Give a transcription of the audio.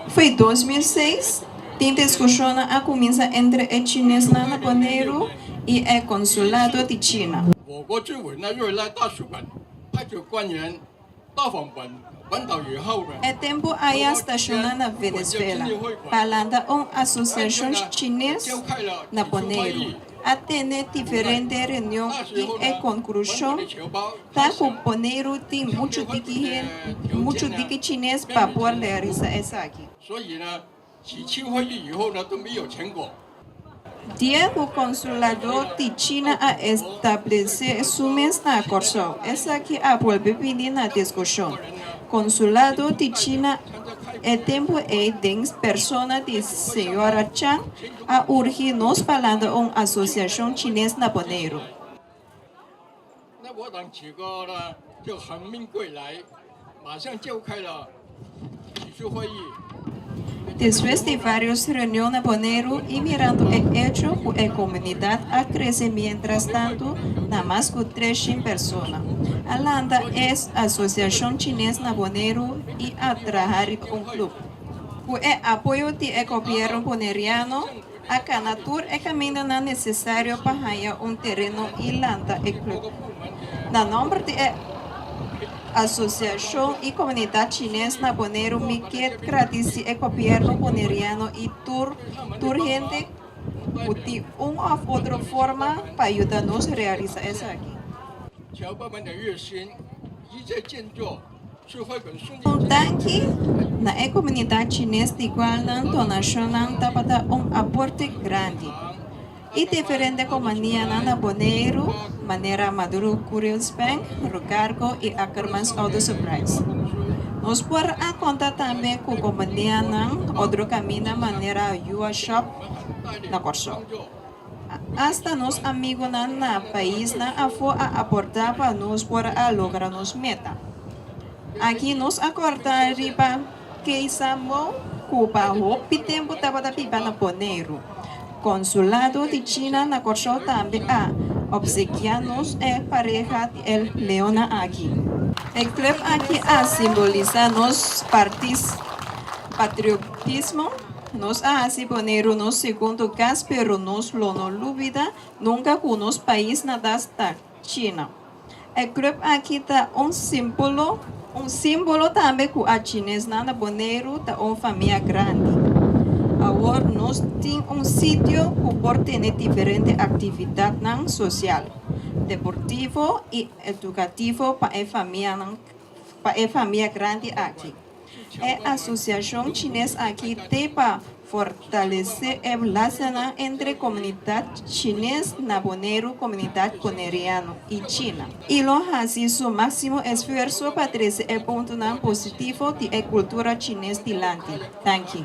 Foi dos mil seis, tin discusionnan a cuminsa entre e chinesnan na Boneiru y e consulado di China. E tempo ai a staciona na Venezuela pa lanta un asociacion chines na Boneiru. a tene diferente reunion y e conclusion ta cu Boneiru tin mucho diki hende, mucho diki chines pa por realiza esaki. Dia cu Consulador di China a establece su mes na Corsou, esaki a bolbe bini na discusion. Consulado di China e tempo ey den persona di Sra. Chang A urgi nos pa landa un asosiashon chines na Boneiru. Despues di varios reunion na Boneiru y mirando e hecho cu e comunidad a crece mientras tanto na mas cu tres shin persona, a landa e asosiashon chines na Boneiru y a traha riba un club. Ku e apoyo di e gobièrnu boneriano a kana tur e kamindanan nesesario pa haña un tereno i lanta e klup. Na nòmber di e asosiashon i komunidat chines na Boneiru mi kier gradisi e gobièrnu boneriano i tur tur hende ku di un òf otro forma pa yuda nos realisá esaki. Un tanki na e komunidat chines di kual nan donashonnan tabata un aporte grandi i diferente kompanianan na Boneiru, manera Maduro Couriers Bank, Rucargo i Ackermans Auto Supplies. Nos por a konta tambe ku kompanianan Odro Camina manera Yuwa Shop na Kòrsou. Asta nos amigunan na paisnan afó a aportá pa nos por a logra nos meta. Aki nos a kòrta riba Keisa Mou ku pa hopi tempu tabata biba na Boneiru. Konsulado di China na Kòrsou tambe a opsekiá nos e pareha di El Leona aki. E klèp aki a simbolisá nos partis patriotismo. Nos a hasi bo ne runos segundo cas pero nos lo no lubida nunca cu nos pais nadas ta China. E club aki ta un simpolo, un simbolo tambe cu a Chinesnan na Boneiru ta un famia grandi. Awor nos tin un sitio cu por tene diferente actividadnan social, deportivo y educativo pa e famianan, pa e famia grandi aki. E asosiashon chines aki te pa fortalesé e blastanan entre komunidat chines na Boneiru, komunidat boneriano i China. I lo hasi su máksimo esfuerso pa trese e puntonan positivo di e kultura chines dilanti. Danki.